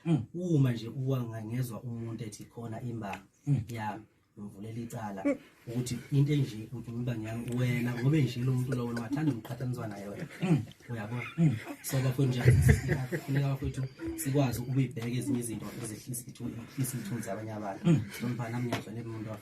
mm. uma nje uwanga ngezwa umuntu ethi khona imbanga mm. yami ngivulela icala mm. ukuthi into enje ukuthi ngiba ngiyami wena ngobe nje lo muntu lowo wathanda umqhathaniswa naye wena mm. uyabo mm. so bafo nje kufuneka bafethu sikwazi ukuyibheka ezinye izinto ezehlisa isithunzi abanye abantu nomfana mnyazwa nemuntu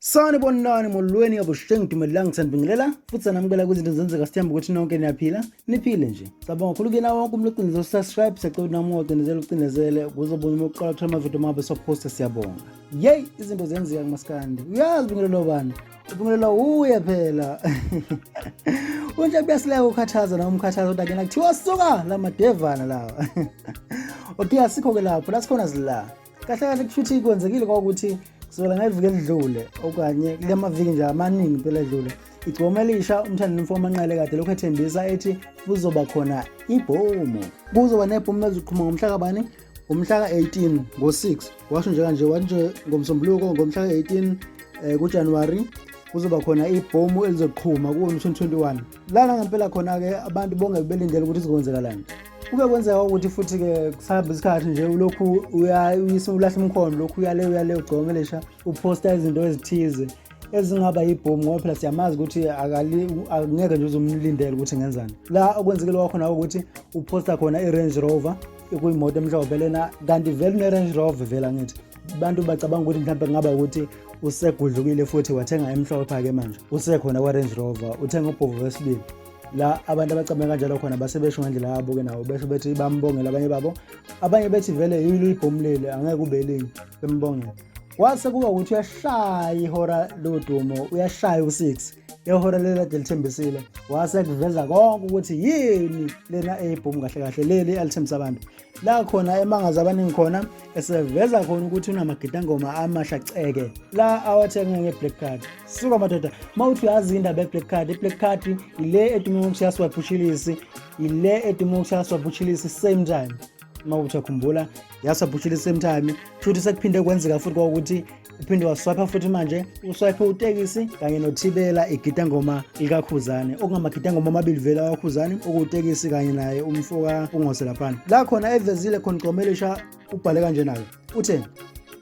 Sani bonani molweni abusheng dumelela ngithanda bingelela futhi sanamukela kwizinto zenzeka sithemba ukuthi nonke niyaphila niphile nje cabanga kakhulu kuyena wonke umuntu ocinezele usubscribe siyacela ukuthi nami ucinezele ucinezele ukuze ubone uma uqala ukuthola amavidiyo mabo sophosta siyabonga yeyi izinto zenzeka kumaskandi uyazi bingelela obani ubingelela uye phela unje kuyasileka ukukhathaza nawo umkhathaza kodwa kena kuthiwa suka la madevana lawa okay asikho-ke lapho la sikhona zila kahle kahle kushuthi kwenzekile kwakuthi kusukela ngeviki elidlule okanye kule maviki nje amaningi impela edlule igcoma elisha umthandi nomfowabo manqele kade lokhu ethembisa ethi kuzoba khona ibhomu kuzoba nebhomu eziqhuma ngomhla kabani umhla ka-18 ngo-6 washo nje kanje wathi nje ngomsombuluko ngomhla ka-18 um eh, kujanuwari kuzoba khona ibhomu elizoqhuma kuwo-2021 lana ngempela khona-ke abantu bongeke belindele ukuthi kuzokwenzekalani kube kwenzeka ukuthi futhi-ke kusahamba isikhathi nje ulokhu ulahla umkhondo lokhu uyale uyale ugcomelesha uphosta izinto ezithize ezingaba yibhomu ngoba phela siyamazi ukuthi akungeke nje uzomlindela ukuthi ngenzani la okwenzekile kwakhona ukuthi uphosta khona i-range rover kuyimoto emhlophe lena kanti vele une-range rover vele angithi abantu bacabanga ukuthi mhlawumbe kungaba ukuthi usegudlukile futhi wathenga emhlophe-ke manje usekhona kwa-range rover uthenga ubhovu wesibili la abantu abacabanga kanjalo khona base besho ngendlela yabo-ke nawo besho bethi bambongele abanye babo abanye bethi vele yilo ibhomu leli angeke kube elinye bembongele kwase kuba ukuthi uyashaya ihora lodumo uyashaya u-six ehora leli kade lithembisile wase kuveza konke ukuthi yini lena eyibhomu kahle kahle leli alithembisa abantu la khona emangaza abaningi khona eseveza khona ukuthi unamagidangoma amasha ceke la awathenga nge-black card suka madoda uma uthi uyazi indaba ye-black card i-black card yile edume ngokushaya swabhushilisi yile edume ngokushaya swabhushilisi same time uma uthi akhumbula yasabhushilisi same time futhi sekuphinde kwenzeka futhi kwakuthi uphinde waswayipha futhi manje uswayiphe utekisi kanye nothibela igidangoma likakhuzane okungamagidangoma amabili vele awakhuzane okuwutekisi kanye naye umfo kakungose laphana la khona evezile khona igcomelisha ubhale kanje nayo uthe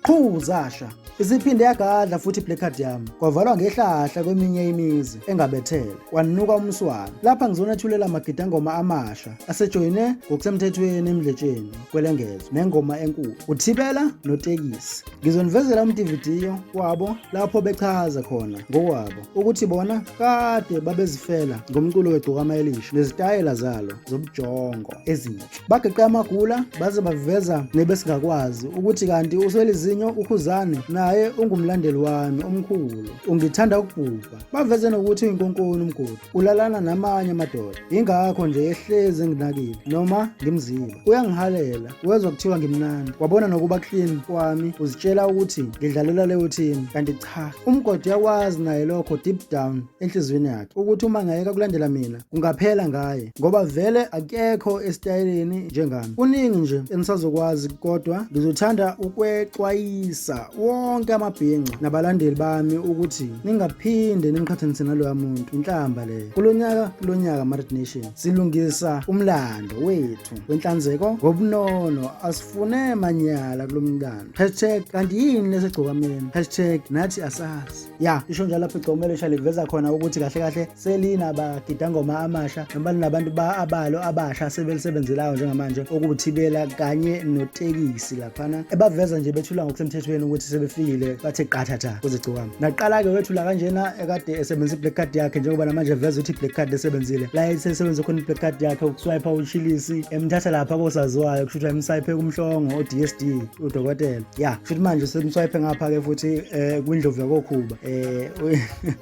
qhu zasha isiphinde yagadla futhi iblack card yami kwavalwa ngehlahla kweminye imizi engabethele kwanuka umswana lapha ngizonethulela amagidangoma amasha asejoyine ngokusemthethweni emdletsheni kwelengezwe nengoma enkulu uthibela notekisi Ngizonivezela umdividiyo wabo lapho bechaza khona ngokwabo ukuthi bona kade babezifela ngomculo wegcokama elisha nezitayela zalo zobujongo ezinhle. Bageqe amagula baze baveza nebesingakwazi ukuthi kanti uswelizinyo ukhuzane naye ungumlandeli wami omkhulu ungithanda ukubhubha Baveze nokuthi inkunkuni umgodi ulalana namanye amadoda ingakho nje ehlezi enginakile noma ngimziba uyangihalela wezwa kuthiwa ngimnandi wabona nokuba clean kwami uzitshela ukuthi ngidlalela leyo team kanti cha umgodi yakwazi naye lokho deep down enhliziyweni yakhe ukuthi uma ngayeka kulandela mina kungaphela ngaye ngoba vele akekho esitayeleni njengami kuningi nje enisazokwazi kodwa ngizothanda ukwexwayisa wonke amabhinca nabalandeli bami ukuthi ningaphinde nimqhathanise naloya muntu inhlamba leyo kulo nyaka kulo nyaka marit nation silungisa umlando wethu wenhlanzeko ngobunono asifune manyala kulo mlando hashtag kanti yini lesegcokameni hashtag nathi asazi ya isho njalo lapho igcomelo isha liveza khona ukuthi kahle kahle selinabagidangoma amasha noma linabantu abalo abasha sebelisebenzelayo njengamanje okuwuthibela kanye notekisi laphana ebaveza nje bethula ngokusemthethweni ukuthi sebefikile bathe qathatha kuzigcokama naqala-ke wethula kanjena ekade esebenzisa i-black card yakhe njengoba namanje veza ukuthi i-black card esebenzile la esesebenza khona i-black card yakhe ukuswipa uchilisi emthatha lapha kosaziwayo kusho ukuthi emswipe kumhlongo o-d s d udokotela ya kusho ukuthi manje semswipe ngapha-ke futhi um kwindlovu yakokhuba um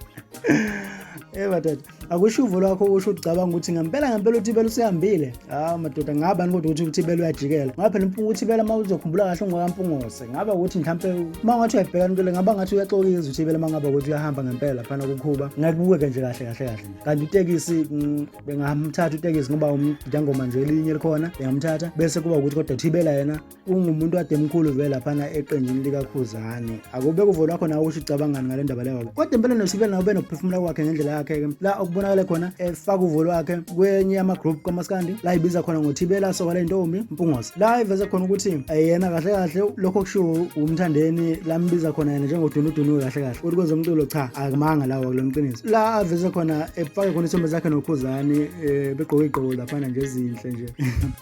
Eh madoda, akusho uvo lwakho usho ucabanga ukuthi ngempela ngempela uThibela usihambile. Ah madoda, ngaba kodwa ukuthi uThibela uyajikela. Ngoba phela impunga uThibela uma uzokhumbula kahle ungakampungose. Ngaba ukuthi mhlambe uma ngathi uyabhekana into le ngaba ngathi uyaxokiza uThibela uma ngaba ukuthi uyahamba ngempela phana kukhuba. Ngakubukeke nje kahle kahle kahle. Kanti utekisi mm, bengamthatha utekisi ngoba umdangoma nje elinye likhona, bengamthatha bese kuba ukuthi kodwa uThibela yena ungumuntu kade mkhulu vele laphana eqenjini likakhuzane akube kuvolo wakho nawe ukuthi ucabangani ngale ndaba leyo kodwa impela nosibele nawe benokuphefumula kwakhe ngendlela yakhe-ke la okubonakale khona efaka uvolo wakhe kwenye yama-group kamaskandi la ibiza khona ngothibela soka le ntombi mpungosi la iveze khona ukuthi eh, yena kahle kahle lokho kushiwo umthandeni lambiza khona yena njengodunudunu kahle kahle ukuthi kwezomculo cha akumanga lawo kulo mqiniso la aveze khona efake khona isombe zakhe nokhuzane um eh, begqoke igqoko laphana nje ezinhle nje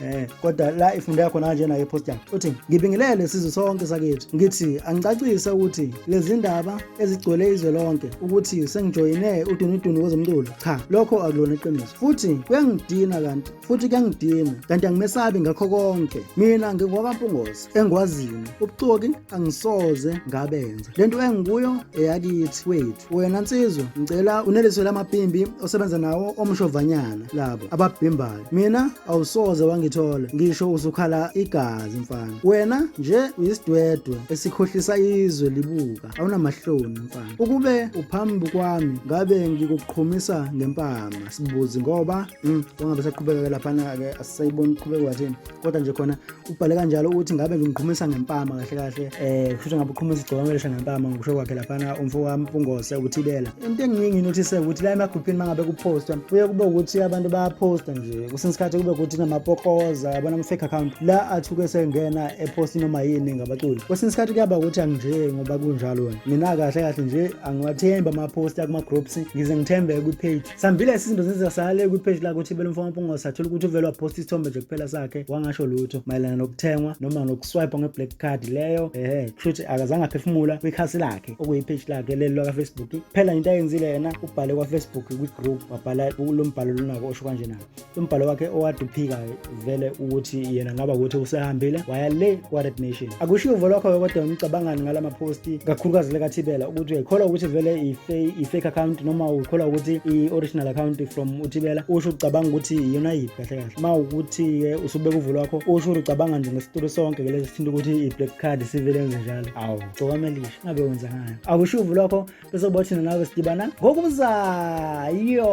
eh kodwa la ifundo yakho nanje nayo post yakho uthi ngibingelele sizwe sonke sakithi ngithi angicacise ukuthi lezi ndaba ezigcwele izwe lonke ukuthi sengijoyine udunudunu kwezomculo cha lokho akulona iqiniso futhi kuyangidina kanti futhi kuyangidina kanti angimesabi ngakho konke mina ngingwakampungose engikwaziyo ubuxoki angisoze ngabenza lento engikuyo eyakithi wethu wena nsizwa ngicela uneliswe lamabhimbi osebenza nawo omshovanyana labo ababhimbayo mina awusoze wangithola ngisho usukhala igazi mfana wena nje uyisidwedwe esikhohlisa izwe libuka awunamahloni mfana ukube uphambi kwami ngabe ngikuqhumisa ngempama sibuzi ngoba mm, ungabe saqhubeka laphana-ke asisayiboni uqhubeka wathini kodwa nje khona ubhale kanjalo ukuthi ngabe ngimqhumisa ngempama kahle kahle eh kusho ngabe uqhumisa igcokwamelisha ngempama ngokusho kwakhe laphana umfo wami ungose ukuthibela into engiye nginothise ukuthi la emagruphini mangabe kupostwa kuye kube ukuthi abantu bayaposta nje kusenesikhathi kube ukuthi namapokoza yabona ama-fake account la athuke sengena eposti noma yini ngabaculi kwesinye isikhathi kuyaba ukuthi anginje ngoba kunjalo mina kahle kahle nje angiwathembi amaposti akuma-groups ngize ngithembe kwi-page Sambile isizinto senza sale kwi-page lakhe ukuthi belo mfana mpunga sathola ukuthi uvele waposta isithombe nje kuphela sakhe wangasho lutho mayelana nokuthengwa noma nokuswipe nge-black card leyo ehe kusho ukuthi akazange aphefumula kwikhasi lakhe okuyi-page lakhe leli lakafacebook kuphela into ayenzile yena ubhale kwafacebook kwi-group wabhala lo mbhalo lonako osho kanje nako umbhalo wakhe owade uphikayo vele ukuthi yena ngaba ukuthi usehambile waya le kwa-red nation akushiwo uvo lwakho kodwa ngicabangani ngala maphosti kakhulukazi lekathibela ukuthi uyikholwa ukuthi vele i-fake account noma uyikholwa ukuthi i-original account from uthibela usho ucabanga ukuthi iyona yiphi kahle kahle uma ukuthi-ke usubeka uvo lwakho usho ukuthi ucabanga nje ngesitulu sonke ke lesi sithinta ukuthi i-black card sivele enze njalo awu gcokamelisha ngabe wenza ngani akushiwo uvo lwakho bese uba thina nawe sidibana ngokuzayo